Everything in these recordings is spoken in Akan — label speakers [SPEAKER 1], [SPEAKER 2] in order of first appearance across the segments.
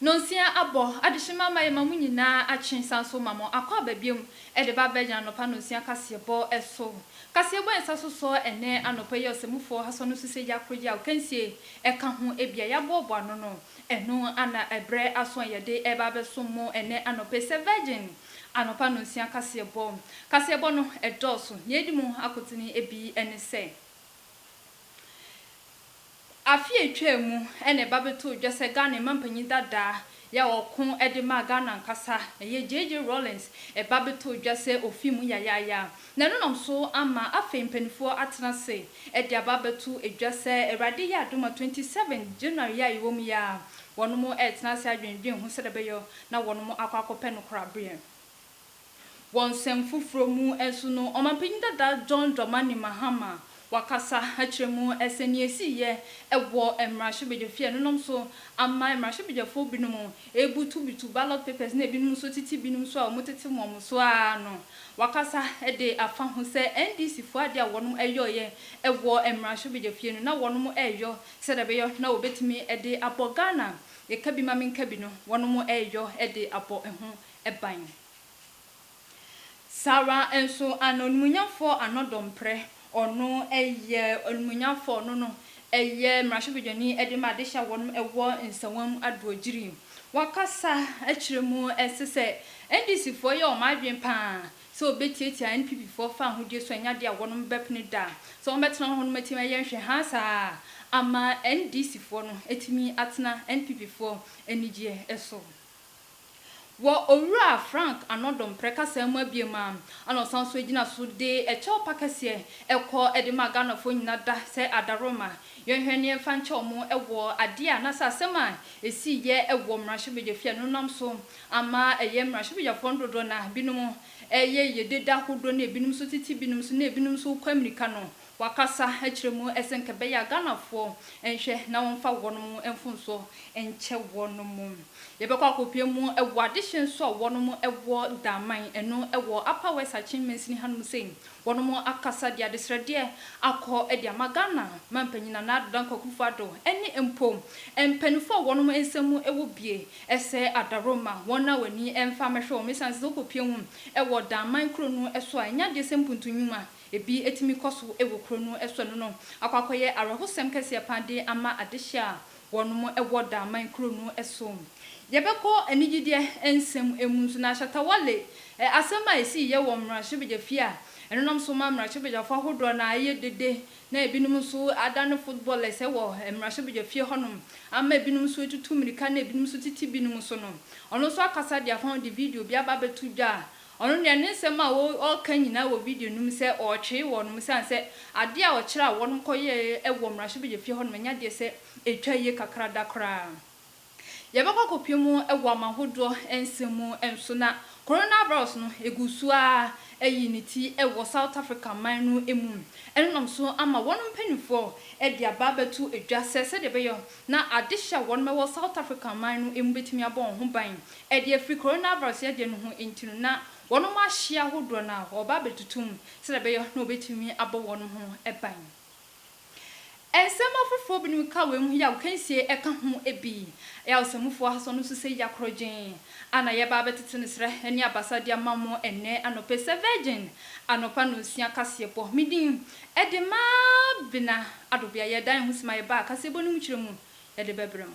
[SPEAKER 1] Nnɔnsia abɔ, adehyema ama yɛma mo nyinaa akye san so ma mo akɔ aba biom de ba abɛgyina anɔpa nnɔnsia kaseɛbɔ so. Kaseɛbɔ a ɛnsa so sɔ ɛnnɛ anɔpa yi a Ɔsɛmufoɔ Hasɔn no susɛ yi akoroyɛ a Ɔkansie ka ho, ebia yɛaboaboa ano no, Ɛno a na ɛbrɛ aso a yɛde reba abɛsom mo ɛnnɛ anɔpa yi sɛ Virgin anɔpa nnɔnsia kaseɛbɔ. Kaseɛbɔ no dɔɔso. Nea edi mu akotene bi ne sɛ, Afe a etwaa mu na ɛba bɛtoo dwa sɛ Ghana mampanyin dada yi a ɔko de maa Ghana ankasa, ɛyɛ JJ Rawlings, ba bɛtoo dwa sɛ ofi mu yayaaya. Na ɛno nam so ama afei mpaninfoɔ atena ase de aba abɛto dwa sɛ Awurade yɛ adom a twenty seven January yi a yɛwɔ mu yi ara wɔnom retena ase adwendwen ho sɛdeɛ ɛbɛyɔ na wɔnom akɔ akɔpɛ nokorabeɛ. Wɔ nsɛm foforɔ mu nso no, Ɔmanpanin dada John Dramani Mahama Wakasa akyerɛ mu sɛ nea esiiɛ wɔ mmarahyɛbadwafie a ɛno nom so ama mmarahyɛbadwafoɔ binom rebutubutu ballot papers na ebinom nso tete binom so a wɔtete wɔn so ara no. Wakasa de afa ho sɛ NDC foɔ adeɛ a wɔnom yɔeɛ wɔ mmarahyɛbadwafie no na wɔnom reyɔ sɛdeɛ ɛbɛyɔ na wɔbɛtumi de abɔ Ghana yɛka bi ma menka bi no wɔnom reyɔ de abɔ ho ban. Saara nso ana Onimonyamfoɔ ano domprɛ, ɔno yɛ Onimonyamfoɔ, ɔno no yɛ Mmarahyɛbadwani de ma adehyɛ a wɔnom wɔ nsawam adoɔgyiri. Wakasa akyerɛ mu nso sɛ NDC foɔ yɛ wɔn adwene paa sɛ wɔbɛtiatia NPP foɔ fa ahodie so, ɛnyɛ adeɛ a wɔnom bɛpene da sɛ wɔn bɛtena hɔ nom atumi ayɛ nhwɛhaa saa ama NDC foɔ no atumi atena NPP foɔ anigyeɛ so. Wɔ Owura Frank Arnaud Domprez kasaa mu abien mu ara na ɔsan nso gyina so de kyɛw pa kɛseɛ kɔ de maa Ghanafoɔ nyina da sɛ Adaworoma yɛnhwɛ ne yɛmfa nkyɛ wɔn wɔ adeɛ a anaasɛ asɛm a ɛsiiɛ wɔ Mmarahyɛbadwafie a ɛno nam so ama ɛyɛ Mmarahyɛbadwafoɔ no dodoɔ no ara binom yɛ yɛ deda hodoɔ ne binom nso tete binom nso ne binom nso kɔ amirika no Wakasa akyerɛ mu sɛ nka ɛbɛyɛ a Ghanafoɔ nhwɛ na wɔmfa wɔnom mfomsoɔ nkyɛ wɔnom. Yɛbɛkɔ akɔpue mu wɔ adehyeɛ nso a wɔnom wɔ Daman, ɛno wɔ Upper West Akyem Mansini hanom sei. Wɔnom akasa de adesrɛdeɛ akɔ de ama Ghana manpanyin Nana Addo Dankwa Akuffo Addo ɛne mpo mpaninfoɔ a wɔnom nsa mu wɔ bie sɛ Adaroma wɔn a w'ani mfa mɛhwɛ wɔn ɛsiane sɛ sɛ wokɔpue mu wɔ Daman kuro no so a ɛnyɛ adeɛ sɛ mpuntu nwuma Ebi tumi kɔ so wɔ kuro no so ɛno no akɔ akɔyɛ awerɛhosɛm kɛseɛ paa de ama adehyeɛ a wɔnom wɔ Daaman kuro no so. Yɛbɛkɔ anigyedeɛ nsɛm mu nso na Shatta Wale asɛm a ɛsiiɛ wɔ mmarahyɛbadwa fie a ɛno nam so ma mmarahyɛbadwafoɔ ahodoɔ no a ɛyɛ dede na ebinom nso adane footballers wɔ mmarahyɛbadwa fie hɔnom ama ebinom nso atutu mmirika na ebinom nso tete binom so no ɔno nso akasa de afam de video bi aba abɛto dwa a Ɔno deɛ ne nsɛm a ɔreka nyinaa wɔ video no mu sɛ ɔretwee wɔnom ɛsiane sɛ adeɛ a ɔkyerɛ a wɔnom kɔyɛɛ wɔ mmarahyɛbadwafie hɔnom ɛnyɛ adeɛ sɛ ɛtwa yie kakra da koraa. Yɛbɛkɔ akɔpue mu wɔ aman hodoɔ nsɛm mu nso na Corona virus no ɛgu so ara ayi ne ti wɔ South Africa man no mu. Ɛno nam so ama wɔnom mpanimfoɔ de aba abɛto dwa sɛ sɛdeɛ ɛbɛyɛ na adehye a wɔnom ɛwɔ South Africa man no mu bɛtumi abɔ wɔn ho ban Ɛdeɛ firi coronavirus yadeɛ no ho nti no na wɔnom ahyeɛ ahodoɔ no a wɔreba abɛtutu mu sɛdeɛ ɛbɛyɔ na wɔbɛtumi abɔ wɔnom ho ban. Nsɛm afoforɔ binom ka wei ho yi a agokansie ɛka ho bi, ɛyɛ a ɔsamufoɔ ahason no nso sɛ ya korɔgyenn a na yɛreba abɛtete no srɛ ne abasa de ama mo ɛnnɛ anɔpa yi sɛ Virgin anɔpa nnɔnsia kaseɛbɔ. Me din de Mabena Adobea. Yɛdan ho sima yɛba kaseɛbɔ no mu kyerɛ mu yɛde bɛbrɛ mo.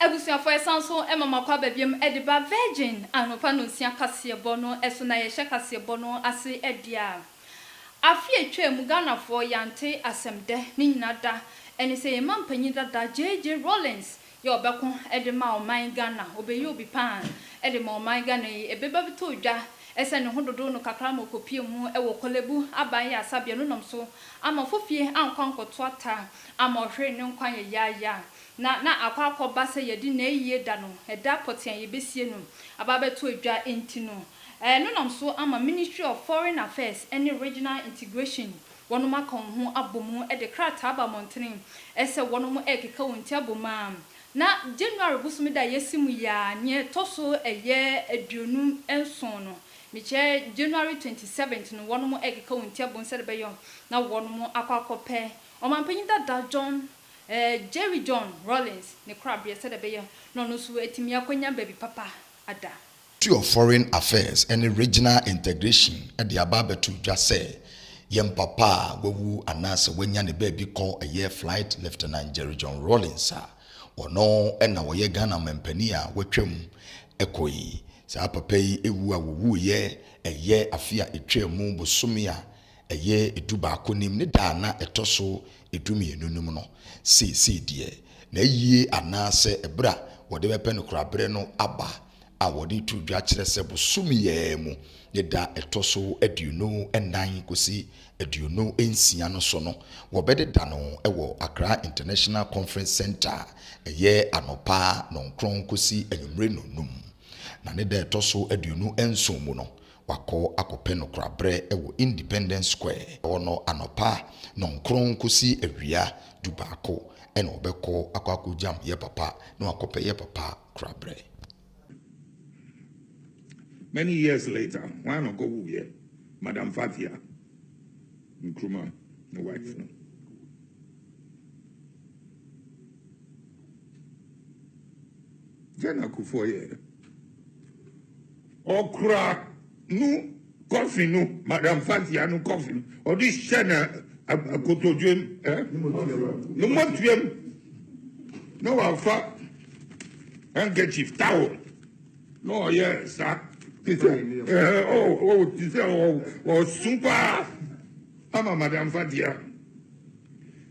[SPEAKER 1] Abusuafo yɛsan so ma mo akwaaba biom de ba Virgin anɔpa nnɔnsia kaseɛbɔ no so na yɛhyɛ kaseɛbɔ no ase deɛ a afe a ɛtwaa mu Ghanafoɔ yɛante asɛm dɛ ne nyina da ɛne sɛ yɛn manpanyin dada JJ Rawlings yɛ ɔbɛko de ma ɔman Ghana ɔbɛyɛ obi paa de ma ɔman Ghana yi ɛbɛba bɛtɔ dwa ɛsɛ ne ho dodo no kakra ma ɔkɔpie mu wɔ Korle Bu Aban yasabea no nam so ama fofie ankɔ ankɔto ata ama ɔhweree ne nkwa yɛyaaya a, na na akɔ akɔba sɛ yɛde n'ayie da no, ɛda pɔtee a yɛbɛsie no, aba abɛto adwa nti no, ɛno nam so ama Ministry of Foreign Affairs ne Regional Integration wɔnom aka wɔn ho abɔ mu de krataa aba mmɔntene sɛ wɔnom rekeka wɔn ti abɔ mu a, na January bosome da a yɛasi mu yi ara, nea ɛtɔ so ɛyɛ aduonu nson no, mekyerɛ January twenty seventh no, wɔnom rekeka wɔn ti abɔ mu sɛdeɛ ɛbɛyɔ na wɔnom akɔ akɔpɛ Ɔmanpanyin dada John, eh, Jerry John Rawlings ne korabeɛ sɛdeɛ ɛbɛyɛ na ɔno nso atumi akɔnya baabi papa ada. Ministry of Foreign
[SPEAKER 2] Affairs ne Regional Integration de aba abɛto dwa sɛ yɛn papa a wawu anaasɛ wanya ne baabi kɔ yɛ Flight Lieutenant Jerry John Rawlings a ɔno na ɔyɛ Ghana Ɔmanpanin a watwam kɔ yi. Saa papa yi wu a ɔwuiɛ yɛ afe a ɛtwaa mu bosome a Ɛyɛ dubaako nim ne da a na ɛtɔ so dumienu no mu no, seesei deɛ, n'ayie anaasɛ ɛberɛ a wɔde bɛpɛ no koraa berɛ no aba a wɔde to dwa kyerɛ sɛ bosome yi ara mu ne da ɛtɔ so aduonu nnan kɔsi aduonu nsia no so no wɔbɛdeda no wɔ Accra International Conference Centre ɛyɛ anɔpa nɔnkron kɔsi anwummere nnɔnnum na ne da ɛtɔ so aduonu nson mu no Wakɔ akɔpɛ no korabrɛ wɔ Independence Square hɔ no anɔpa nɔnkron kɔsi awia dubaako, ɛna ɔbɛkɔ akɔ akɔgyam yɛ papa na wakɔpɛ yɛ papa korabrɛ.
[SPEAKER 3] Many years later, hwan na ɔkɔwuiɛ? Madam Fathia Nkrumah, ne wife no. Dɛn na Kufuor yɛɛ? Ɔkura no kɔfe no, Madam Fathia no kɔfe no, ɔde hyɛ na akotodwe mu, eh? Ne mɔtua mu. Na wafa handkerchief, towel, na ɔyɛ saa. Te sɛ, eh, oh, oh, te sɛ ɔsun paa ama Madam Fathia.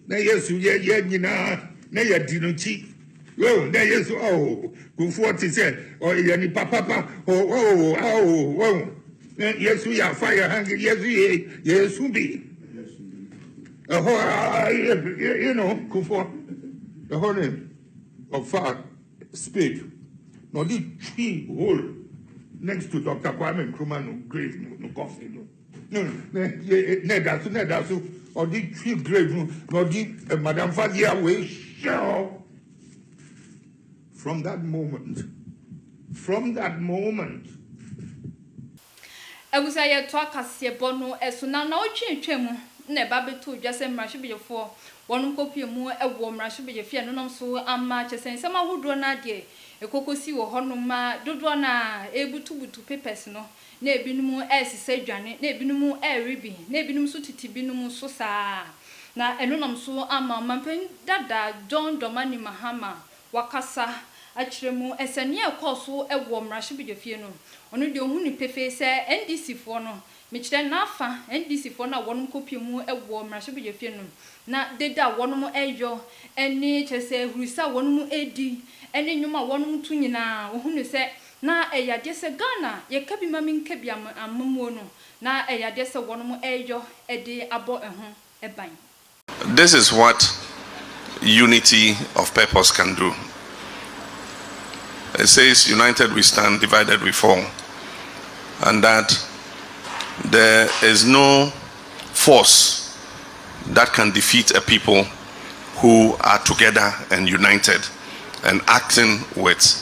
[SPEAKER 3] na yesu yɛ yɛ nyinaa na yɛdi no kyi oh na yesu oh kufuɔ te sɛ oh yɛ nipa papa oh oh oh oh na yesu yɛ afa yɛ ha yesu yɛ yesu bi ɛhɔ a you know kufuɔ ɛhɔ ne ɔfa spade na ɔde twi hole next to dr kwame nkrumah no grave no coffin no. na na ɛda so na ɛda so ɔde twi grade mu na ɔde eh, madam fadeɛ a wɔahyɛ hɔ from that moment from that moment
[SPEAKER 1] Agusa yɛtoa kaseɛbɔ no so na naawɔtwe atwa mu na ɛba bɛtoo dwa sɛ mmarahyɛbadwafoɔ wɔnom kɔpue mu wɔ mmarahyɛbadwafie no nom so ama kyɛ sɛ nsɛm ahodoɔ no ara deɛ ɛkɔkɔsi wɔ hɔnom ma dodoɔ no a ɛbutubutu papers no na ebinom resesɛ dwane, na ebinom rewe bi, na ebinom nso tete binom so saa ara. Na ɛno nam so ama Ɔmampanyin dada John Dormani Mahama wakasa akyerɛ mu sɛ nea ɛrekɔ so wɔ mmarahyɛbadwafie no, ɔno deɛ ɔhu no pefee sɛ NDCfoɔ no, mekyerɛ n'afa NDCfoɔ no a wɔnom kɔpue mu wɔ mmarahyɛbadwafie no, na dede a wɔnom reyɔ ne kyerɛ sɛ ahurusi a wɔnom redi ne nnwom a wɔnom reto nyinaa, ɔhu no sɛ Na ɛyɛ adeɛ sɛ Ghana yɛka bi ma menka bi amammuo no na ɛyɛ adeɛ sɛ wɔnom ɛreyɔ de abɔ ɛho ban. This is
[SPEAKER 4] what unity of purpose can do it says united we stand divided we fall and that there is no force that can defeat a people who are together and united and acting with.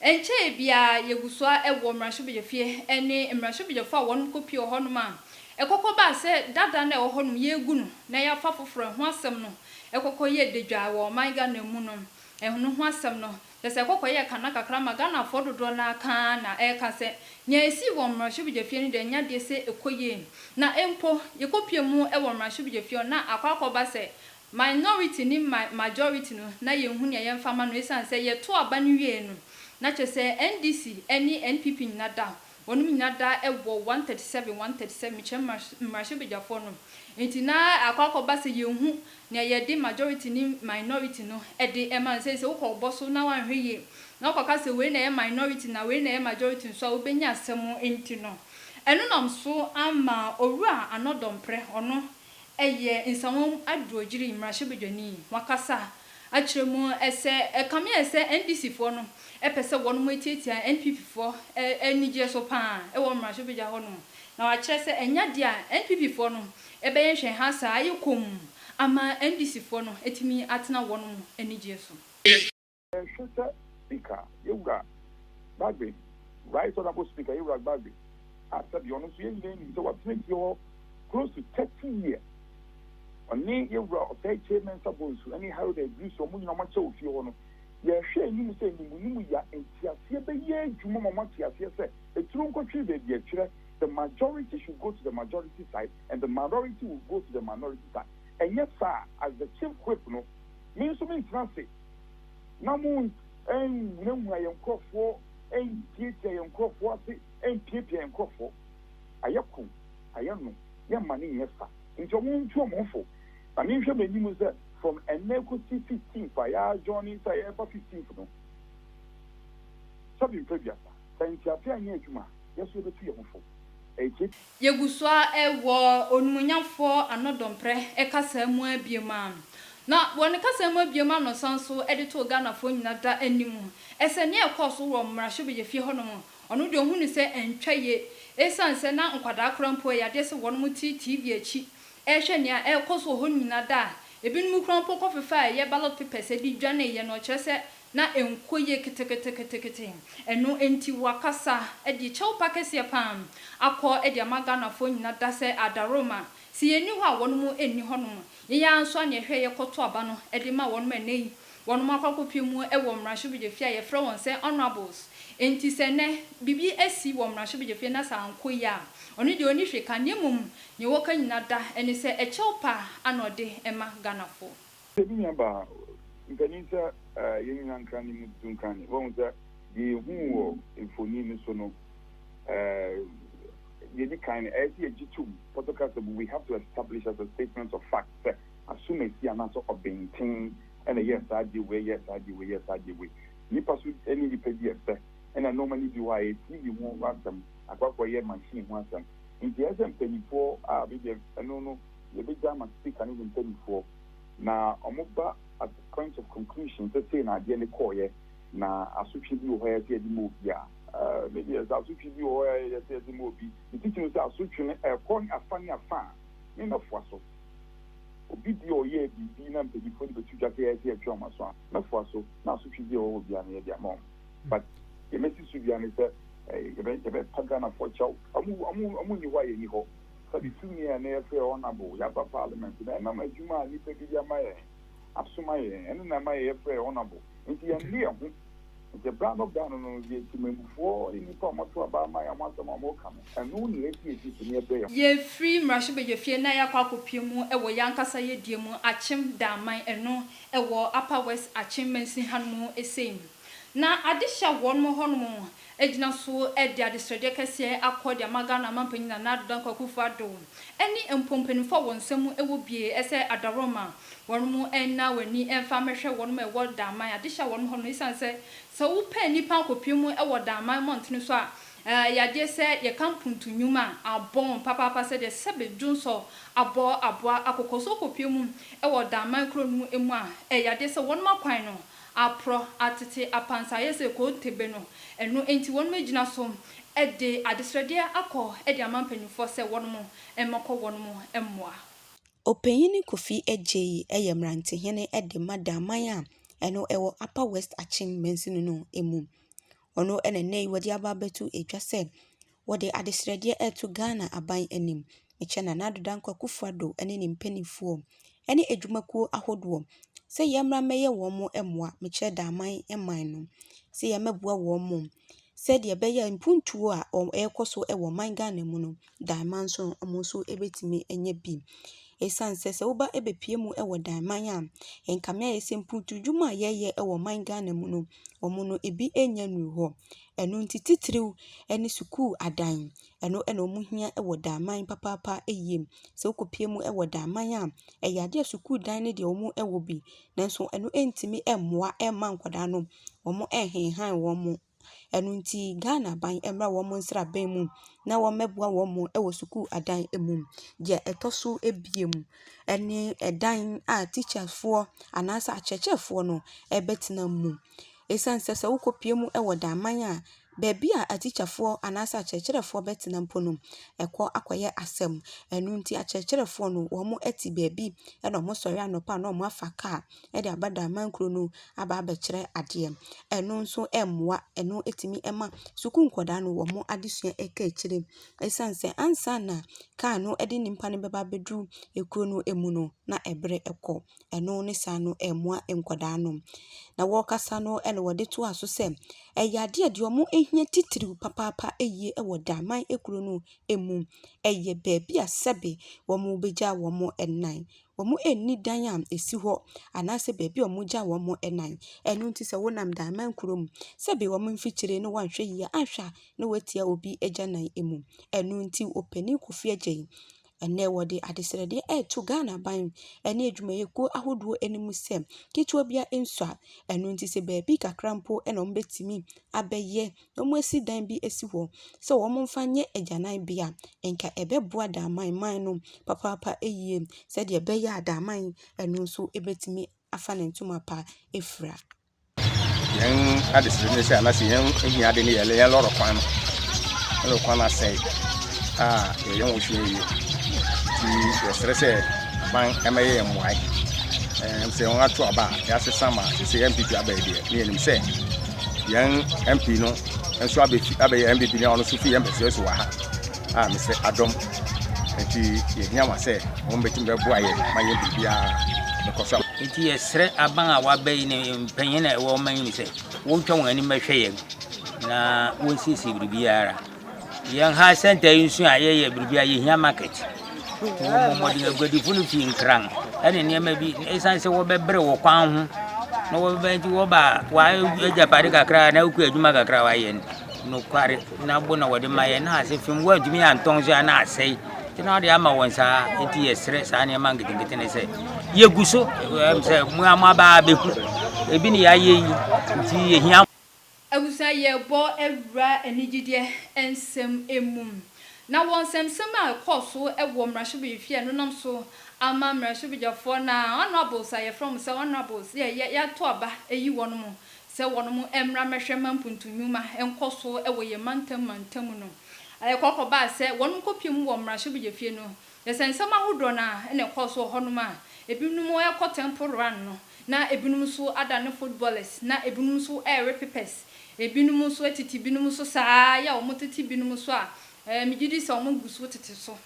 [SPEAKER 1] Ɛnkyɛe biara yegu so ara wɔ mmarahyɛbadwafie ne mmarahyɛbadwafo a wɔnom kɔ pie wɔ hɔnom a, ɛkɔkɔ baa sɛ dada no a ɛwɔ hɔnom yɛgu no na yɛafa foforɔ ɛho asɛm no ɛkɔkɔ yɛ dadwaa wɔ ɔman Ghana mu no ɛno ho asɛm no kyerɛ sɛ ɛkɔkɔ yɛ kana kakra ma Ghanafoɔ dodoɔ no ara ka ara na ɛreka sɛ nea ɛsii wɔ mmarahyɛbadwafie no deɛ ɛnyɛ adeɛ sɛ ɛkɔ yie na mpo yɛkɔ pie mu wɔ mmarahyɛbadwafie hɔ na akɔ akɔba sɛ Minority ne ma majority no na yɛnhu nea yɛmfa mma no ɛsiane sɛ yɛto aba no wieɛ no na kyerɛ sɛ NDC ne NPP nyina da wɔnom nyina da wɔ 137 137 mekyerɛ mmarahyɛbadwafoɔ no nti na akɔ akɔ ba sɛ yɛnhu nea yɛde majority ne minority no de ma no sɛ sɛ wokɔ wobɔ so na woanhwɛ yie na wokɔ ka sɛ wei na ɛyɛ minority na wei na ɛyɛ majority nso a wobɛnya asɛm nti no ɛno nam so ama owura Anɔdɔ Mprɛ ɔno Ɛyɛ nsawam adurɔgyiri mmarahyɛbadwani. Wakasa akyerɛ mu sɛ ɛkame ayɛ sɛ NDC foɔ no pɛ sɛ wɔnom atiatia NPP foɔ anigyeɛ so paa wɔ mmarahyɛbadwa hɔ nom. Na wakyerɛ sɛ ɛnyɛ adeɛ a NPP foɔ no bɛyɛ nhwɛha saa ayɛ komm ama NDC foɔ no atumi atena wɔnom anigyeɛ so. Yɛhwɛ sɛ
[SPEAKER 3] Speaker Yewura Bagbin, Right Honourable Speaker Yewura Bagbin, a sɛdeɛ ɔno nso yɛn nyinaa nim sɛ watena fie hɔ close to thirty years, ɔne Yewura Ɔsɛe Kyei Mensah Bonsu ne Harold Edrisu, wɔn nyinaa wɔakyɛ wɔ fie hɔ no, yɛhwɛ anim sɛ animunim ya nteaseɛ bɛyɛ adwuma ma wɔate aseɛ sɛ eturo nkɔtwere baabi ɛtwerɛ, the majority should go to the majority side and the minority will go to the minority side. Ɛnyɛ saa a, as the Chief Whip no, me nso mentena ase. na mo nhunahuna yɛn nkurɔfoɔ, ntiatia yɛn nkurɔfoɔ ase, mpiapia yɛn nkurɔfoɔ. Ayɛ ko, ayɛ no, yɛmma no nyɛ sa. Enti wɔn ntu wɔn ho fo. Na menhwɛ m'anim sɛ from ɛnnɛ kɔsi fifteenth a yɛ adjourn sɛ yɛreba fifteenth no, sɛ mempɛ aduasa, sɛ nteaseɛ anyɛ adwuma a, yɛn nso yɛbɛtu yɛn ho fo. Ɛyɛ tiatia. Yegu
[SPEAKER 1] so ara wɔ Onimuonyamfoɔ Anɔdɔmprɛ kasaa mu ara biom a, na wɔ ne kasaa mu biom a na ɔsan so de too Ghanafoɔ nyina da anim sɛ nea ɛkɔɔ so wɔ Mmarahyɛbadwafie hɔnom, ɔno deɛ ɔhunu sɛ ɛntwa yie esiane sɛ na nkwadaa koraa mpo ɛyɛ adeɛ sɛ wɔnom te TV akyi rehwɛ nea ɛrekɔ so wɔ hɔ nyina da a ebinom koraa mpo kɔfefaa ɛyɛ ballot papers de dwaneeɛ no ɔkyerɛ sɛ na ɛnkɔ yie keteketekete, ɛno nti wakasa de kyɛwpa kɛseɛ pa ara akɔ de ama Ghanafoɔ nyina da sɛ Adaroma, sɛ yɛnni hɔ a wɔn mo nni hɔ nom, yɛn ara nso a na yɛhwɛ yɛkɔ to aba no de ma wɔn, ɛnnɛ yi wɔn akɔ akɔ pie mu wɔ mmarahyɛbadwafie a yɛfrɛ wɔn sɛ Honourables, nti sɛ ɛnnɛ biribi asi wɔ mmarahyɛbadwafie na sɛ ankɔ yie a ɔno deɛ ɔnni hwee ka, na mmom deɛ ɔka nyina da ne sɛ ɛkyɛwpa ara na ɔde ma Ghanafoɔ. Sɛ bi nya ba a,
[SPEAKER 3] nkanim sɛ yɛn nyinaa nkra ne mu tutu nkra ne. Woahu sɛ deɛ yɛhuu wɔ mfoni no so no, deɛ ɛdi kan no, ɛyɛ sɛ yɛgye tom, Pɔtɔ ka sɛ, We have to establish as a statement of fact sɛ asomasi anaasɛ ɔbenten na ɛyɛɛ saa adeɛ wei, ɛyɛɛ saa adeɛ wei, ɛyɛɛ saa adeɛ wei. Nnipa nso ne nnipa di ɛsɛ, ɛna nnoɔma no bi wɔ hɔ a ɛyɛ TV ho asɛm, akɔ akɔyɛ machine ho asɛm. Nti ɛyɛ sɛ mpaninfoɔ a bebia ɛno no, Yɛbɛgya ama speaker ne ne mpaninfoɔ na ɔmo ba at the point of conclusion sɛ sei na adeɛ no kɔɔeɛ na
[SPEAKER 5] asotwe bi wɔ hɔ a ɛsɛ yɛde ma obi a. Aah me deɛ sɛ asotwe bi wɔ hɔ a ɛyɛ sɛ yɛde ma obi, me titi mu sɛ asotwe no ɛkɔ ne afa ne afa a me mɛfoa so. Obi bi a ɔyɛɛ biribi na mpaninfoɔ no bɛto dwa sɛ ɛyɛ sɛ yɛtwe wɔn aso a, mɛfoa so na asotwe bi a ɛwɔ hɔ biara no yɛde ama wɔn. But deɛ mɛsi so biara ne sɛ yɛbɛ yɛbɛpa Ghanafoɔ kyɛw. Ɔmo ɔmo ɔmo nni hɔ a yɛnni hɔ. Sɛde tumi a na yɛfrɛ honourable yɛ aba parliament no, ɛnam adwuma a nnipa bi de ama yɛn, asoma yɛn, ɛno na ɛma yɛyɛ frɛɛ honourable. Enti yɛnnu yɛn ho. Nti berɛ ano berɛ ano no, yɛ temammufoɔ ne nnipa a wɔato aba ama yɛn ho asɛm a wɔka no, ɛno na yɛde yɛn ti so na yɛbrɛ yɛn ho. Yɛfiri
[SPEAKER 1] mmarahyɛbadwafie na yɛakɔ akɔpue mu wɔ yɛn ankasa yɛdie mu, Akyem Danman, ɛno ɛwɔ Upper West Akyem Mansin hanom sei. Na ade hyɛ wɔnom hɔnom Egyina so de adesrɛdeɛ kɛseɛ akɔ de ama Ghana Manpanin Nana Addo Dankwa Akufo Addo ɛne mpo mpaninfoɔ a wɔn nsa mu wɔ bie sɛ adaworoma wɔnom nna wɔn ani mfa mmɛhwɛ wɔnom a ɛwɔ Daman adehye a wɔnom hɔ no esiane sɛ sɛ wo pɛ nnipa akɔpue mu wɔ Daman mmɔntene so a ɛyɛ adeɛ sɛ yɛka mpuntu nnwuma a abɔ wɔn papaapa sɛdeɛ sɛ bɛ dwo nsɔ abɔ aboa akokɔ so wokɔpue mu wɔ Daman kuro no mu a ɛyɛ adeɛ sɛ wɔnom akwan no Aporɔ, atete, apansayɛ sɛ kontebe no, ɛno nti wɔnom agyina so de adesrɛdeɛ akɔ de ama mpaninfoɔ sɛ wɔnom mmɛkɔ wɔnom mmoa. Ɔpanyini
[SPEAKER 6] Kofi Adjei yɛ mmerantehene de ma Daman a ɛno ɛwɔ Upper West Akyem mansini no mu. Ɔno na nnɛ yi wɔde aba abɛto dwa sɛ Wɔde adesrɛdeɛ reto Ghana aban anim kyɛ Nana Addo Dankwa Akufo-Addo ne ne mpaninfoɔ ne adwumakuo ahodoɔ sɛ yɛmmra mmɛyɛ wɔn mmoa mekyerɛ Daaman man no sɛ yɛmmɛboa wɔn sɛdeɛ ɛbɛyɛ a mpuntuo a ɛrekɔ so wɔ ɔman Ghana mu no, Daaman nso no, wɔn nso bɛtumi anya bi. Ɛsiane sɛ sɛ woba bɛpue mu wɔ Daaman a, ɛnkame ayɛ sɛ mpuntuo dwuma a yɛyɛ wɔ ɔman Ghana mu no, wɔn no ebi nnya nnuru hɔ. Ɛno nti titiriw ne sukuu adan. Ɛno na wɔn hia wɔ daanan papaapa yie mu. Sɛ wokɔ pue mu wɔ daanan a, ɛyɛ adeɛ a sukuu dan no deɛ wɔn wɔ bi. Nanso ɛno ntumi mmoa mma nkwadaa no wɔn nhenhan wɔn mo. Ɛno nti Ghana aban mmra wɔn nsraban mu na wɔn mmɛboa wɔn mo wɔ sukuu adan mu. Deɛ ɛtɔ so abien ɛne ɛdan a teacherfoɔ anaa sɛ akyerɛkyerɛfoɔ no bɛtena mu. Esiane sɛ sɛ wokɔpue mu wɔ daman a baabi a atikyafoɔ anaasɛ akyerɛkyerɛfoɔ bɛtena mpo no, ɛkɔ akɔyɛ asɛm. Ɛno nti akyerɛkyerɛfoɔ no, wɔte baabi na wɔsɔre anɔpa na wɔafa kaa de aba daman kuro no aba abɛkyerɛ adeɛ. Ɛno nso mmoa, ɛno tumi ma sukuu nkwadaa no wɔn adesua kɔ akyire. Esiane sɛ ansa na kaa no de nnipa no bɛba abɛduru kuro no mu no, na ɛberɛ kɔ. ɛno ne saa no ɛmmoa nkwadaa no. Na wɔkasa no ɛna wɔde toa so sɛ, ɛyɛ adeɛ a deɛ ɔmo hia titiriw papaapa ɛyie ɛwɔ Daman ekuro no ɛmu. Ɛyɛ baabi a sɛbi wɔmo bɛgya wɔmo ɛnan. Wɔmo nni dan a ɛsi hɔ anaasɛ baabi a wɔmo gya wɔmo ɛnan. Ɛno nti sɛ wonam Daman kuro mu sɛbi wɔmo mfikyire no wanhwɛ yie a ahwɛ a na watia obi agyanan ɛmu. Ɛno nti opanin Kofi Agyei Ɛnnɛ wɔde adesrɛdeɛ ɛreto Ghana aban ne adwumayɛkuo ahodoɔ anim sɛ, ketewa biara nsua, ɛno nti sɛ baabi kakra mpo na wɔbɛtumi abɛyɛ na wɔasi dan bi asi hɔ sɛ wɔmfa nyɛ agyananbea a, nka ɛbɛboa Damanman no papaapa yie sɛdeɛ ɛbɛyɛ a Damanman no nso bɛtumi afa ne ntoma pa afira.
[SPEAKER 7] Yɛn adesrɛ ne sɛ anase yɛn ahiade ne yɛlɛ yɛn lɔrɔ kwan no lɔrɔ kwan no asɛe a yɛyɛ ho hwɛ yie nti yɛsrɛ sɛ aban ɛmɛyɛ yɛn mmoae ɛm sɛ wɔn ato aba a yɛasesa ma te sɛ yɛn mpipi abɛɛ deɛ ne yɛnim sɛ yɛn mpi no nso abɛfi abɛyɛ mpipi no a ɔno nso fi yɛn mpɛsɛ so wɔ ha a mesɛ adom nti yɛhia wɔn sɛ wɔn bɛtumi bɛboa yɛ ma yɛn biribiara bɛkɔ so. nti yɛsrɛ
[SPEAKER 8] aban a waba yi ne mpanyin a ɛwɔ ɔman yi mu sɛ wɔntwa wɔn anim bɛhwɛ yɛn na wɔnsiesie biribiara yɛn ha sɛnta yi nso a yɛyɛ biribiara yɛhia market wɔmmɔ mmɔden aguadifo no fii nkran ɛne nneɛma bi ɛsiane sɛ wɔbɛbrɛ wɔ kwan ho na wɔbɛbɛn nti wɔba a wɔagyapade kakra na wokɔ adwuma kakra wɔayɛ no nokware Na bo na wɔde ma yɛn, na ase fam wɔantumi antɔn nso a na asɛe. Nti na wɔde ama wɔn saa. Nti yɛsrɛ saa nneɛma nketenkete no sɛ yɛgu so ɛm sɛ mo a moaba abɛku ebi ne yɛayɛ yi nti yɛhia Abusua
[SPEAKER 1] yɛbɔ awura anigyedeɛ nsɛm mu. Na wɔ nsɛmnsɛm a ɛkɔɔ so wɔ mmarahyɛbadwafie a ɛnenam so ama mmarahyɛbadwafoɔ na honourables a yɛfrɛ wɔn sɛ honourables yɛ yɛ yɛato aba ayi wɔn sɛ wɔnom mmra mmɛhwɛ ma mpuntu nnwuma nkɔ so wɔ yɛn mantam mantam no. Ɛkɔ kɔbaa sɛ wɔnom kɔpie mu wɔ mmarahyɛbegyafie no, yɛsɛ nsɛm ahodoɔ no ara na ɛkɔɔ so wɔ hɔnom a ebinom rekɔ temple run no, na ebinom nso adane footballers, na ebinom nso rewe papers, ebinom nso atete binom so saa ara yɛ a wɔtete binom so a megye di sɛ wɔgu so tete so.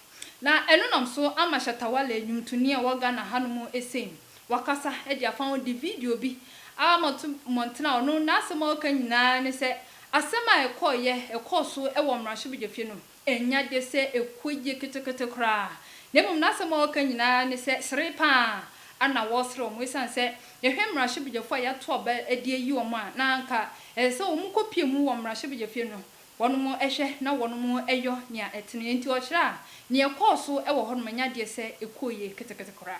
[SPEAKER 1] Na ɛno nam so ama Shatta Wale, nnwomtoni a ɔwɔ Ghana hanom sei. wakasa de afa ho de video bi ama to mmɔnten a ɔno n'asɛm a ɔka nyinaa ne sɛ asɛm a ɛkɔeɛ ɛkɔɔ so wɔ mmarahyɛbadwafie no ɛnya de sɛ ɛkɔ yie ketekete koraa na mmom n'asɛm a ɔka nyinaa ne sɛ sere pa ara na wɔresere wɔn ɛsiane sɛ yɛhwɛ mmarahyɛbadwafoɔ a yɛato aba de ayi wɔn a na anka ɛsɛ sɛ wɔn kɔpie mu wɔ mmarahyɛbadwafie no wɔnom hwɛ na wɔnom yɔ nea ɛtene enti ɔkyerɛ a nea ɛkɔɔ so wɔ hɔnom ɛnya deɛ sɛ ɛkɔɔ yie ketekete koraa.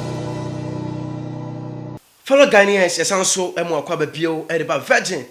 [SPEAKER 9] Fellow Ghanaians yɛsan nso mo akwaba bio reba Virgin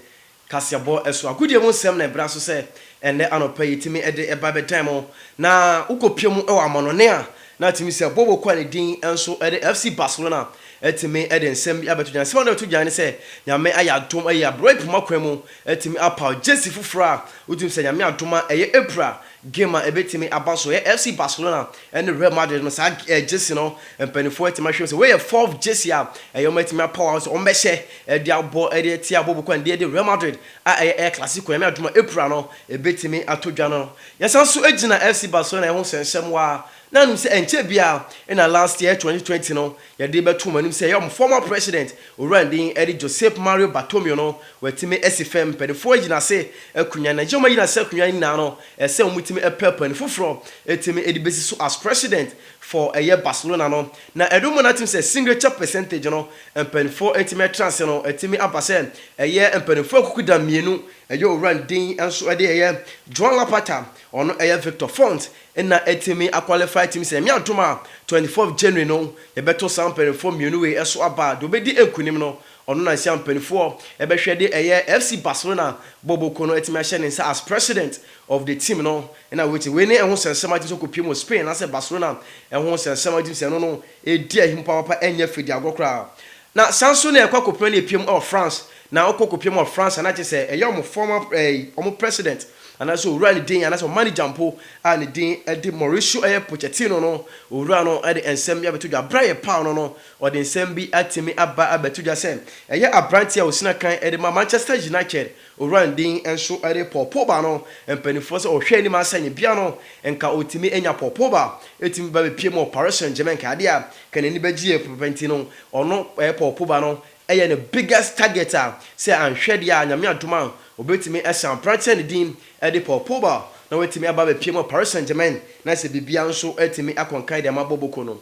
[SPEAKER 9] kaseɛbɔ so agodie mu nsɛm na ɛbra so sɛ ɛnnɛ anɔpa yi tumi de ɛba bɛdan mo na wokɔ pie mu wɔ amanɔne a na tumi sɛ Bobo kɔ a ne din nso de FC Barcelona tumi de nsɛm bi abɛto dwan nsɛm a na ɛto dwan ne sɛ Nyame ayɛ adom ayi abrɛ poma kwan mu tumi apaw Jersey foforɔ a wotumi sɛ Nyame adom a ɛyɛ April Game a ebetumi aba so yɛ FC Barcelona ne Real Madrid no, saa jersey no mpanimfoɔ atumi ahwɛ mu sɛ wei yɛ fourth jersey a ɛyɛ wɔatumi apaw a sɛ wɔbɛhyɛ de abɔ de atia abɔ boku a ɛnde ɛde Real Madrid a ɛyɛ El Clasico, Nyame adom a, April no ebetumi ato dwa no. Yɛsan nso gyina FC Barcelona ho sɛ nhyɛmmoa, na anom sɛ ɛnkyɛ biara na last year, 2020 no, Yɛde bɛto mo anim sɛ yɛn former president, Owura Ndin Eddie Josep Mario Bartomeu no, watumi asi fam mpanimfoɔ agyinase akonwa, na yɛn agyinase akonwa no nyinaa no, ɛsɛ sɛ wɔtumi pɛ panin foforɔ tumi de bɛsi so as president for ɛyɛ Barcelona no. Na ɛdom mo natɛm sɛ signature percentage no mpaninfoɔ atumi atena ase no atumi aba sɛ ɛyɛ mpaninfoɔ akukuda mmienu, ɛyɛ Owura Ndin nso de ɛyɛ Joan Laporta, ɔno ɛyɛ Victor Font, Nna etumi akwalifai tim sɛ, Nyame adom a, twenty fourth January no, yɛbɛto saa mpaninfoɔ mmienu wei ɛso aba a, deɛ ɔbɛdi nkunim no, ɔno na nsia mpaninfoɔ ɛbɛhwɛ de ɛyɛ FC Barcelona bɔbɔ kuo no atumi ahyɛ ne nsa as President of the team no. Nna wei te, wei ne ɛho sɛnsɛm a tim sɛ ɔkɔpiem wɔ Spain anaasɛ Barcelona ɛho sɛnsɛm a tim sɛ ɛno no ɛredi ahim papaapa ɛnyɛ fɛ di agorɔ koraa. Na saa nso na ɛkɔ akɔpira ne ɛpiam wɔ France na ɔkɔ kɔpiam wɔ France a na kyerɛ sɛ ɛyɛ wɔn former ɛɛi wɔn president anaasɛ owura ne din anaasɛ wɔn manager mpo a ne din de Mauricio ɛyɛ Pochettino no owura no de nsɛm bi abɛto dwa berɛ a yɛpaw no no ɔde nsɛm bi atumi aba abɛto dwa sɛ ɛyɛ abranteɛ a ɔsina kan de ma Manchester United Owura Ndin nso de pɔɔpooba no mpanimfoɔ sɛ ɔhwɛ anim asɛnnibea no nka ɔtumi anya pɔɔpooba tumi ba bɛpie mu wɔ Paris Saint Germain nka adeɛ a nka n'ani bɛgyeɛ pɛpɛpɛ nti no ɔno pɔɔpooba no yɛ ne biggest target a sɛ anhwɛ deɛ a Nyame adom a ɔbɛtumi asan aberanteɛ no din de pɔɔpooba na watumi aba abɛpie mu wɔ Paris Saint Germain na sɛ biribiara nso atumi akɔ nkan de ama Boboko no.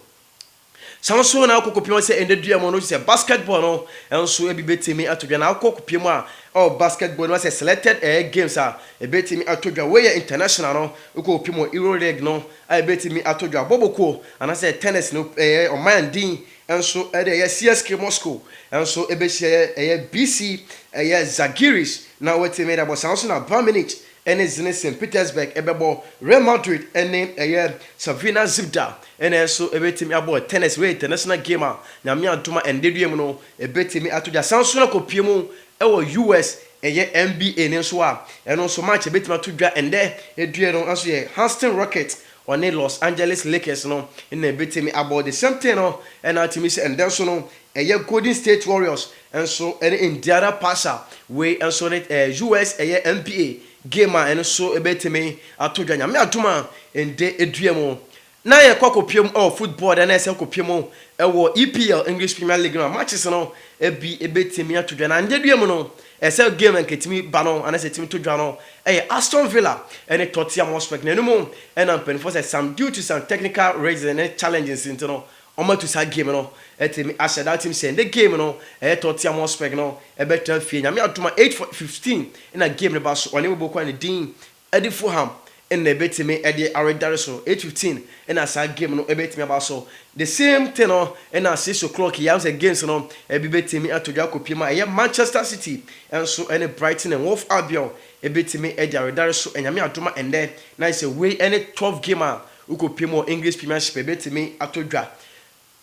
[SPEAKER 9] Saa ara nso na akokɔpie a sɛ ɛnnɛ dua mu no gye sɛ basketball no nso bi bɛtumi ato dwa. Na akokɔpie mu a ɛwɔ basketball no sɛ selected ɛɛ games a ɛbɛtumi ato dwa. Wei yɛ international no, wokɔkɔpie mu Euro League no a ɛbɛtumi ato dwa. Bɔbɔkuo anaasɛ tennis no ɛɛ ɔman din nso ɛde ɛyɛ CSKA Moscow nso bɛhyia ɛyɛ BC ɛyɛ Zalgiris na wɔatumi de abɔ. Saa ara nso na Bayern Munich ɛne Zenit Petersburg bɛbɔ, Real Madrid ne ɛyɛ Crvena Zvezda na ɛnso ɛbɛtumi abɔ Tennis Rio International Game a Nyame adom a ɛnnɛ dua mu no ɛbɛtumi ato gya. San nso na kɔpue mu wɔ US ɛyɛ NBA no nso a ɛno nso match a ɛbɛtumi ato dwa ɛnnɛ dua no nso yɛ Houston Rockets ɔne Los Angeles Lakers no na ɛbɛtumi abɔ. The same thing no na atumi sɛ ɛnnɛ nso no Ɛyɛ Golden State Warriors nso ne Indiana Pacers. Wei nso ne US ɛyɛ NBA game a ɛno nso bɛtumi ato dwa Nyame adom a ɛnde dua mu. Na yɛkɔ akɔpue mu wɔ football deɛ na yɛsɛ kɔpue mu wɔ EPL, English Premier League no a matches no bi bɛtumi ato dwa. Na ɛnde dua mu no ɛsɛ game a nka ɛtumi ba no anaasɛ ɛtumi to dwa no ɛyɛ Aston Villa ne Tottenham Hotspur. Na ɛno mu na mpaninfoɔ sɛ some due to some technical reasons ne challenges nti no Wɔatu saa game no atumi ahyɛ da atim sɛ nnɛ game no ɛyɛ Tottenham Hotspur no ɛbɛtra fie Nyame adom a eight fo fifteen na game no ba so ɔne Bobo kwan ne din ɛde Fulham na ɛbɛtumi ɛde aredare so eight fifteen na saa game no ɛbɛtumi aba so the same thing no na six o'clock yɛ ahu sɛ games no ɛbi bɛtumi ato dwa akɔ pie ma ɛyɛ Manchester City nso ɛne Brighton and Wolf Albion ɛbɛtumi ɛde aredare so Nyame adom a ɛnnɛ na ayɛ sɛ wei ɛne twelve game a Wokɔpem wɔ English Premiership a, ɛbɛtumi atɔ dwa.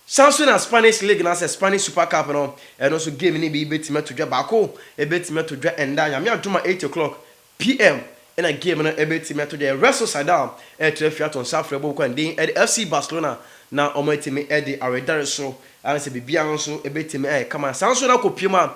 [SPEAKER 9] San nso na Spanish League anaasɛ Spanish Super Cup no, ɛno nso game no bi bɛtumi atɔ dwa. Baako bɛtumi atɔ dwa nnɛ a, Nyame adom a, eight o'clock PM na game no bɛtumi atɔ dwa. Real Sociedad retra fie ato nsa afrɛ Bob Kwanden de FC Barcelona na wɔatumi de awe dare so. Ayɛ sɛ biribiara nso bɛtumi ayɛ kama. Saa nso na kɔpem a,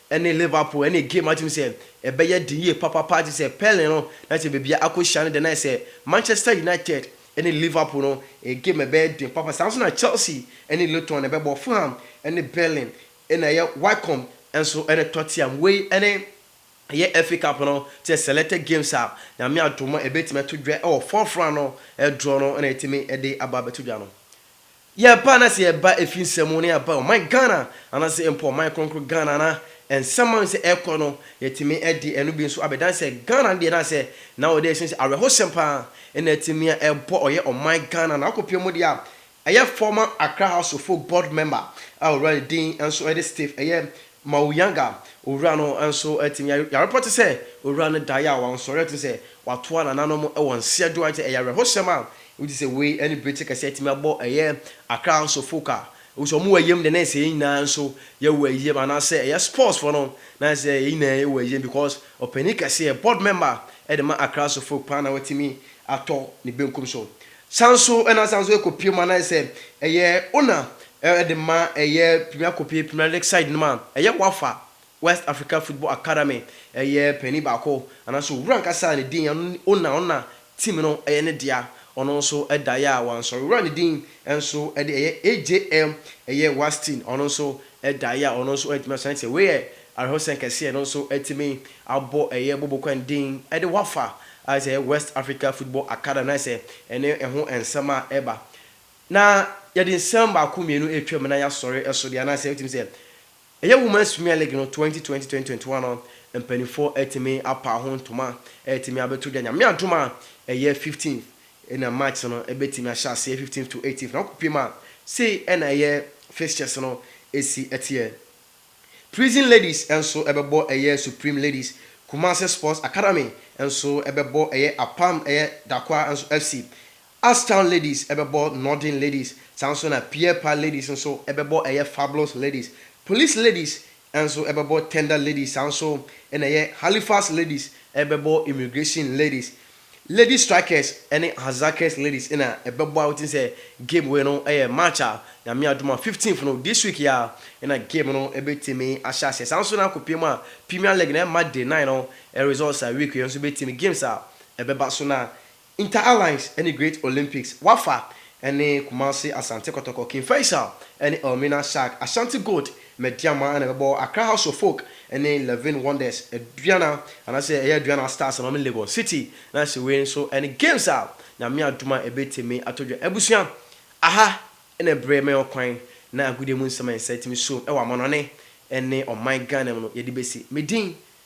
[SPEAKER 9] ne Liverpool ɛne game a tumi sɛ ɛbɛyɛ den yie papapaa te sɛ Pele no na sɛ baabiara akɔhyia no deɛ na ayɛ sɛ Manchester United ɛne Liverpool no game ɛbɛyɛ den papa saa nso na Chelsea ɛne Luton ɛbɛbɔ Fulham ɛne Berlin ɛna ɛyɛ Wycombe nso ɛne Tottenham wei ɛne ɛyɛ FA Cup no te sɛ selected games a Nyame adom a ɛbɛtumi ato dwa ɛwɔ fourth round no draw no ɛna ɛtumi ɛde aba abɛto dwa no Yɛ paa na sɛ yɛ ba ɛfiri nsɛm mu na yɛ ba ɔman Ghana ana sɛ mpo ɔman kronkron Ghana na nsɛm ma sɛ ɛkɔ no yɛ tumi de ɛno bi nso abɛ dan sɛ Ghana no deɛ na sɛ na wɔ dɛ sɛ sɛ awɛho sɛm paa ɛna ɛtumi a ɛbɔ ɔyɛ ɔman Ghana na akɔ pie mu deɛ a ɛyɛ former Accra House of Folk Board Member a ɔwura ne din nso ɛde Steve ɛyɛ Mauyanga owura no nso tim yarepɔ te sɛ owura no daeɛ a wansɔre a ɛte sɛ watoa nananom wɔ nseɛ do ayɛ te sɛ ɛyɛ awerɛhosɛm a wodi sɛ wei ne bere te kɛseɛ atumi abɔ ɛyɛ Accra nso folk a wohu sɛ wɔwɔ ayam dɛn na ɛsɛ yɛn nyinaa nso yɛwɔ ayam anaasɛ ɛyɛ sports foɔ no na ɛsɛ sɛ yɛn nyinaa yɛwɔ ayam because ɔpanin kɛseɛ board member de ma Accra nso folk paa na watumi atɔ ne benkum so San so na asan so ɛkɔpue mu anaayɛ sɛ ɛyɛ owner de ma ɛyɛ Premier Kope, Premier League side nom a ɛyɛ Wafa, West Africa Football Academy, ɛyɛ panin baako anaa sɛ owura ankasa a ne din ɛno ne owner, ɔno na team no ɛyɛ ne dea, ɔno nso daeɛ a wansɔre. Owura ne din nso de ɛyɛ AJM ɛyɛ Wastin, ɔno nso daeɛ a ɔno nso antumi ansɔre, ɛnti sɛ wei yɛ Awerɛhosɛm kɛseɛ no nso atumi abɔ ɛyɛ Bobokwan din de Wafa a sɛ ɛyɛ West Africa Football Academy na ayɛ sɛ ɛne ɛho nsɛm a ɛba na yɛde nsɛm baako mmienu retwam na yɛasɔre ɛso deɛ anaasɛ wotumi sɛ ɛyɛ Women's Premier League no twenty twenty twenty twenty one no mpaninfoɔ atumi apaa ho ntoma ɛretumi abɛto dwa Nyame adom a ɛyɛ fifteenth na match no ɛbɛtumi ahyɛ aseɛ fifteenth to eighteenth na wokɔpie mu a sei na ɛyɛ fixtures no ɛsi ɛteɛ. Prison Ladies nso bɛbɔ ɛyɛ Supreme Ladies, Kumasi Sports Academy nso bɛbɔ ɛyɛ Apam ɛyɛ Dakwa nso FC, Astown Ladies bɛbɔ Norden Ladies, saa nso na Pierpa Ladies nso bɛbɔ ɛyɛ Fabulous Ladies, Police Ladies nso bɛbɔ Tender Ladies, saa nso na ɛyɛ Halifax Ladies bɛbɔ Immigration Ladies. Lady Strikers ne Harzakers Ladies na ɛbɛbɔ a wotim sɛ game wei no yɛ March a Nyame adom a fifteenth no this week yi ara na game no bɛtumi ahyɛ aseɛ. Saa nso na akɔpie mu a Premier League na ɛma day nine no results a week wei nso bɛtumi games a ɛbɛba so na Inter Allies ne Great Olympics, Wafa ne Kumasi Asante Kɔtɔkɔ, King Faisal ne Elmina Shark, Ashanti Gold Medeama na ɛbɛbɔ Accra House of Folk ne Levin Wonders Aduana anaasɛ ɛyɛ Aduana Stars Maame Legon City na sɛ wei nso ne games a Nyame adom a ɛbɛtumi atɔ dwa. Abusua, aha ne bere me ɔkwan na agodie mu nsɛm a nsa tumi suom wɔ amanɔne ne ɔman Ghana mu no yɛde bɛsi. Me din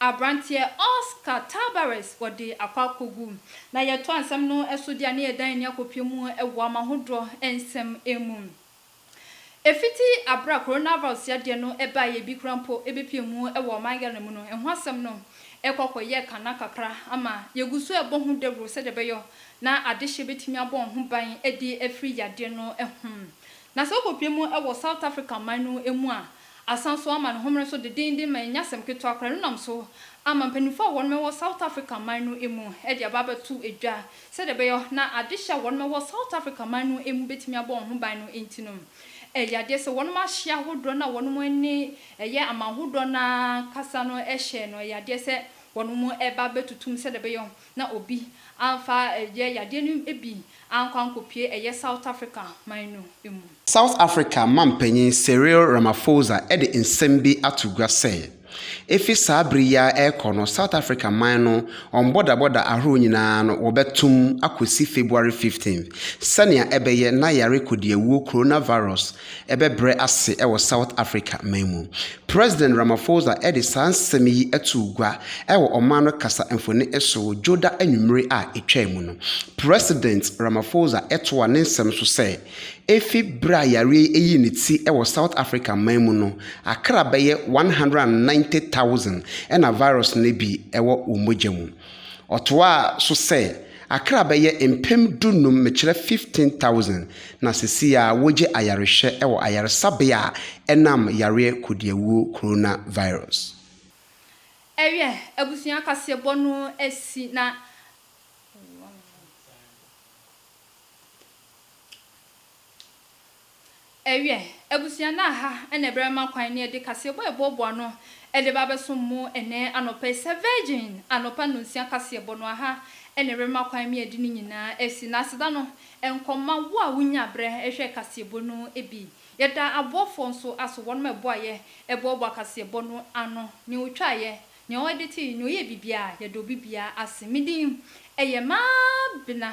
[SPEAKER 1] Aberanteɛ Oscar Tabarez wɔde akɔ akɔgu. Na yɛtoa nsɛm no so deɛ a na yɛdan ani akɔpie mu wɔ amahodoɔ nsɛm mu. Ɛfiti aberɛ a coronavirus yadeɛ no baeɛ a bi koraa mpo bɛpie mu wɔ ɔman Ghana mu no, ɛho asɛm no rekɔ akɔyɛ kana kakra ama yɛgu so rebɔ ho dawuro sɛdeɛ ɛbɛyɔ na adehyeɛ bɛtumi abɔ wɔn ho ban de afiri yadeɛ no ho. Na sɛ wokɔpie mu wɔ South Africa man no mu a, Asan so ama ne homene so dedennden ma ɛnyɛ asɛm ketewa koraa. Ɛno nam so ama mpanyimfo a wɔnom wɔ South Africa man no mu de aba abɛto dwa. Sɛdeɛ ɛbɛyɔ na adehye a wɔnom wɔ South Africa man no mu bɛtumi abɔ wɔn ho ban no nti no, ɛyɛ adeɛ sɛ wɔnom ahye ahodoɔ no a wɔnom ne ɛyɛ aman hodoɔ no ara kasa no hyɛɛ no, ɛyɛ adeɛ sɛ wɔnom ba abɛtutum sɛdeɛ ɛbɛyɔ na obi amfa ɛyɛ yadeɛ no bi ankɔ ankɔpue ɛyɛ South Africa man no mu. South Africa
[SPEAKER 10] mampanyin Cyril Ramaphosa de nsɛm bi ato gua sɛ, efi saa bere yi ara rekɔ no South Africa man no wɔn bɔdabɔda ahorow nyinaa no wɔbɛtom akosi February 15th sɛnea ɛbɛyɛ na yare kodiawuo Coronavirus bɛbrɛ ase wɔ South Africa man mu. President Ramaphosa de saa nsɛm yi too gua wɔ ɔman no kasa mfoni so wɔ Dwoda anwummere a etwaam no. President Ramaphosa toaa ne nsɛm so sɛ, Efi bere a yareɛ yi yii ne ti wɔ South Africa man mu no, akra bɛyɛ 190,000 na virus no bi wɔ wɔn mogya mu. Ɔtoaa so sɛ, Accra bɛyɛ mpem dunum, mekyerɛ 15,000, na seseiaa wogye ayarehwɛ wɔ ayaresabea a ɛnam yareɛ kodiawuo coronavirus.
[SPEAKER 1] Ɛyɛ abusua kaseɛbɔ no asi na Ewiɛ, abusua no a ha na ɛbɛma kwan ne ɛde kaseɛbɔ a ɛboaboa ano de ba abɛsom mo ɛnnɛ anɔpa yi sɛ Virgin anɔpa nnɔnsia kaseɛbɔ no aha na ɛbɛma kwan me ɛde ne nyinaa asi na aseda no nkɔ ma wo a wonya berɛ hwɛ kaseɛbɔ no bi. Yɛda aboafoɔ nso aso wɔnom a ɛboaeɛ ɛboaboa kaseɛbɔ no ano, nea ɔtwaeɛ, nea ɔɛdetee, nea ɔyɛɛ biribiara, yɛda obi biara ase. Me din ɛyɛ Mabena